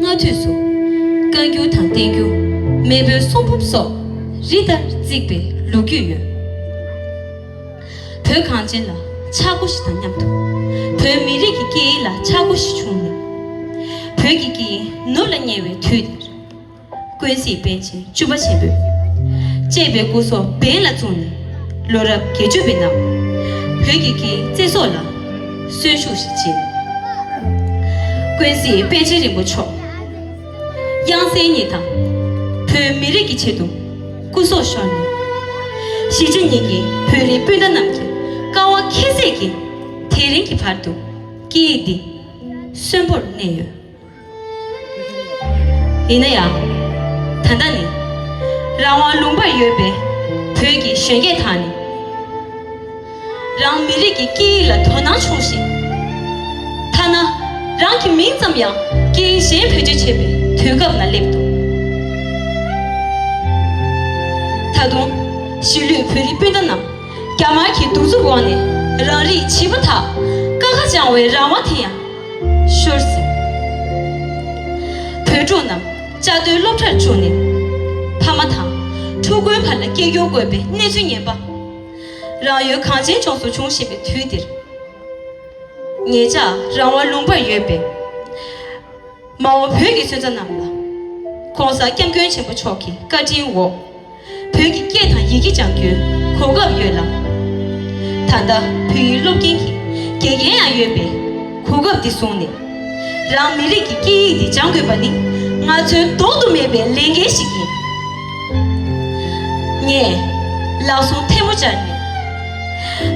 སྔ་དུས་སུ། བཀའ་འགྱུར་དང་བསྟན་འགྱུར། མེས་པོའི་གསུང་འབུམ་སོགས། རི་ལྟར་བརྩིགས་པའི་ལོ་རྒྱུས་ཡོད། བོད་གངས་ཅན་ལ་ཆག་སྒོ་བཞི་དང་མཉམ་དུ། བོད་མི་རིགས་ཀྱི་སྐད་ཡིག་ལ་ཆག་སྒོ་བཞི་བྱུང་ནས། བོད་ཀྱི་སྐད་ཡིག་ནུབ་ལ་ཉེ་བའི་དུས་འདིར། ཀུན་གཟིགས་དཔལ་ཆེན་བཅུ་པ་ཆེན་པོས། གཅེས་པའི་སྐུ་སོགས་འབེན་ལ་བཙུགས་ནས། ལོ་རབས་བརྒྱད་ཅུ་པའི་ནང། བོད་ཀྱི་མཁྱེན་བརྩེ་སོགས་ལ། གསོན་ཤུགས་ཤིག་སྦྱིན། ཀུན་གཟིགས་དཔལ་ཆེན་རིན་པོ་མཆོག། དབྱངས་གསལ་ཉིད་དང། བོད་མི་རིགས་ཀྱི་ཆེད་དུ། སྐུ་སྲོག་ཤོར་ནས། གཞིས་བྱེས་གཉིས་ཀྱི་བོད་རིགས་སྤུན་ཟླ་རྣམས་ཀྱི། དཀའ་བ་ཁྱད་བསད་ཀྱིས། དེ་རིང་གི་བར་དུ། སྐད་ཡིག་འདི། གསོན་པོར་གནས་ཡོད། ཡིན་ན་ཡང། ད་ལྟ་ནི། རང་དབང་ལུང་པར་ཡོད་པའི་བོད་ཀྱི་གཞོན་སྐྱེས་དག་ནི། རང་མི་རིགས་ཀྱི་སྐད་ཡིག་ལ་དོ་སྣང་ཆུང་ཞིང། ཐ་ན་རང་གི་མིང་ཙམ་ཡང་སྐད་ཡིག་གཞན་བེད་སྤྱོད་བྱེད་པའི་དུས་སྐབས་ལ་སླེབས་འདུག་ད་དུང། གཞིས་ལུས་བོད་རིགས་སྤུན་ཟླ་རྣམས་རྒྱ་དམར་གྱི་གདུག་རྩུབ་འོག་ནས་རང་རིགས་བྱིས་པ་དག་དཀའ་ཁ་བཅངས་བའི་རང་དབང་དེ་ཡང། ཤོར་ཟིན། བོད་ཕྲུག་རྣམས་བཅའ་སྡོད་སློབ་གྲྭར་བཅུག་ནས་ཕ་མ་དང་ཕྲུ་གུའི་བར་ལ་སྐད་སྒྱུར་དགོས་པའི་གནས་ཚུལ་ངན་པ་རང་ཡུལ་གངས་ཅན་ལྗོངས་སུ་བྱུང་བཞིན་པའི་དུས་འདིར། ངེད་ཅག་རང་དབང་ལུང་པར་ཡོད་པའི། མ་འོངས་བོད་ཀྱི་སོན་རྩ་རྣམས་ལ། ྋགོང་ས ྋསྐྱབས་མགོན་ཆེན་པོ་མཆོག་གི་བཀའ་དྲིན་འོག་བོད་ཀྱི་སྐད་དང་ཡི་གེ་སྦྱང་རྒྱུའི་གོ་སྐབས་ཡོད་ལ། ད་ལྟ་བོད་ཡིག་སློབ་མཁན་གྱི་དགེ་རྒན་ཡང་ཡོད་པས་གོ་སྐབས་འདི་བཟུང་ནས་རང་མི་རིགས་ཀྱི་སྐད་ཡིག་འདི་སྦྱང་དགོས་པ་ནི་ང་ཚོའི་ལྡོག་ཏུ་མེད་པའི་ལས་འགན་ཞིག་ཡིན། ངས་ལག་ཟུང་ཐལ་མོ་སྦྱར་ནས་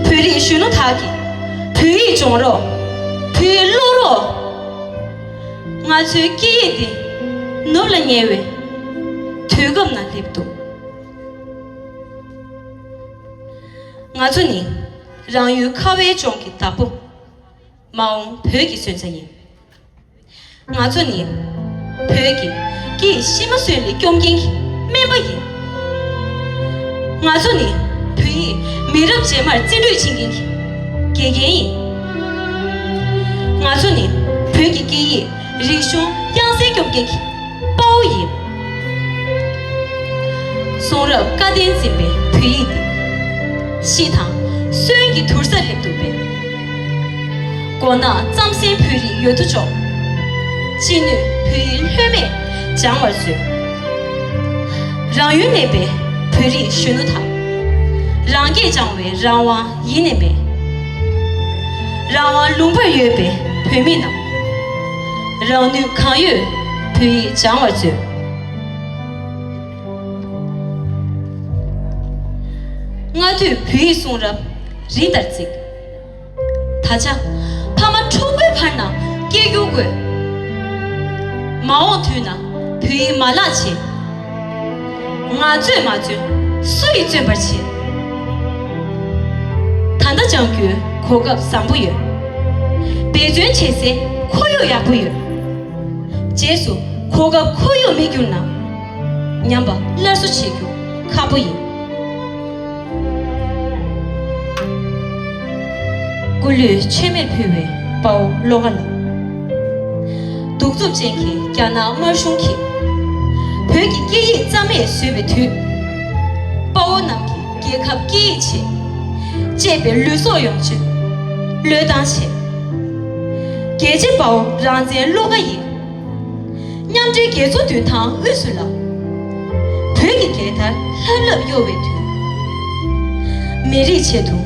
བོད་རིགས་གཞོན་ནུ་དག་གིས་བོད་ཡིག་སྦྱོང་རོགས། བོད་ཡིག་ཀློག་རོགས། ང་ཚོའི་སྐད་ཡིག་འདི་ནུབ་ལ་ཉེ་བའི་དུས་སྐབས་ན་སླེབས་འདུག་ང་ཚོ་ནི་རང་ཡུལ་ཁ་བའི་ལྗོངས་ཀྱི་བདག་པོ་མ་འོངས་བོད་ཀྱི་སོན་རྩ་ཡིན། ང་ཚོ་ནི་བོད་ཀྱི་སྐད་ཡིག་ཤི་མ་གསོན་ལས་སྐྱོབ་མཁན་གྱི་སྨན་པ་ཡིན། ང་ཚོ་ནི་བོད་ཡིག་མི་རབས་རྗེས་མར་རྩིས་སྤྲོད་བྱེད་མཁན་གྱི་དགེ་རྒན་ཡིན། ང་ཚོ་ནི་བོད་ཀྱི་སྐད་ཡིག་རིག་གཞུང་དབྱངས་གསལ་སྐྱོབ་མཁན་གྱི་དཔའ་བོ་ཡིན། གསུང་རབ་བཀའ་བསྟན་འཛིན་པའི་བོད་ཡིག་འདི། ཤིས་དང་གསོན་གྱི་དུར་ས་སླེབས་འདུག་པས། མགོ་ནག་རྩམ་གཟན་བོད་རིགས་ཡོད་དོ་ཅོག། ཅི་ནུས་བོད་ཡིག་ལྷོད་མེད་སྦྱང་བར་མཛོད། རང་ཡུལ་གནས་པའི་བོད་རིགས་གཞོན་ནུ་དག། རང་སྐད་སྦྱང་བའི་རང་དབང་ཡེ་ནས་མེད། རང་དབང་ལུང་པར་ཡོད་པའི་བོད་མི་རྣམས། རང་ནུས་གང་ཡོད་བོད་ཡིག་སྦྱང་བར་མཛོད། སྔ་དུས་བོད་ཡིག་གསུང་རབ་རི་ལྟར་བརྩིགས། ད་ཆ། ཕ་མ་འཁྲུག་པའི་བར་ན་སྐྱེས་རྒྱུ་དགོས། མ་འོངས་དུས་ན་བུ་ཡིས་མ་ལགས་བྱེད། ང་བཙོན་མ་བཙོན་སུ་ཡིས་བཙོན་པར་བྱེད། ད་ལྟ་སྦྱང་རྒྱུའི་གོ་སྐབས་བཟང་པོ་ཡོད། འབད་བརྩོན་བྱེད་སའི་ཁོར་ཡུག་ཡག་པོ་ཡོད། རྗེས་སུ་གོ་སྐབས་ཁོར་ཡུག་མེད་གྱུར་ན། ཉམས་པ་སླར་གསོ་བྱེད་རྒྱུ་ཁག་པོ་ཡིན། སྐུ་ལུས་ཆད་མེད་ཕུལ་བའི་དཔའ་བོ་བློ་དགའ་ལགས། གདུག་རྩུབ་ཅན་གྱི་རྒྱ་ནག་དམར་གཞུང་གིས། བོད་ཀྱི་སྐད་ཡིག་རྩ་མེད་བཟོས་པའི་དུས། དཔའ་བོ་རྣམས་ཀྱི་རྒྱལ་ཁབ་སྐད་ཡིག་ཆེད། གཅེས་པའི་ལུས་སྲོག་ཡོངས་གཅོད་བློས་བཏང་བྱས། རྒྱལ་གཅེས་དཔའ་བོ་རང་བཙན་བློ་དགའ་ཡིས། མཉམ་འབྲེལ་རྒྱལ་ཚོགས་དུས་དང་དབུས་སུ་ལངས། བོད་ཀྱི་རྒྱལ་དར་ལྷབ་ལྷབ་གཡོ་བའི་དུས། མི་རིགས་ཆེད་དུ་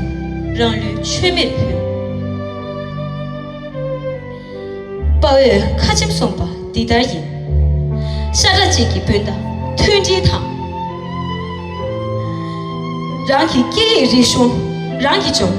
རང་ལུས་མཆོད་མེར་ཕུལ། དཔའ་བོས་ཁ་ཆེམས་གསུངས་པ་འདི་ལྟར་ཡིན། ཤ་ཁྲག་གཅིག་གི་སྤུན་ཟླ་མཐུན་སྒྲིལ་དང། རང་གི་སྐད་ཡིག་རིག་གཞུང་རང་གིས་སྦྱོང།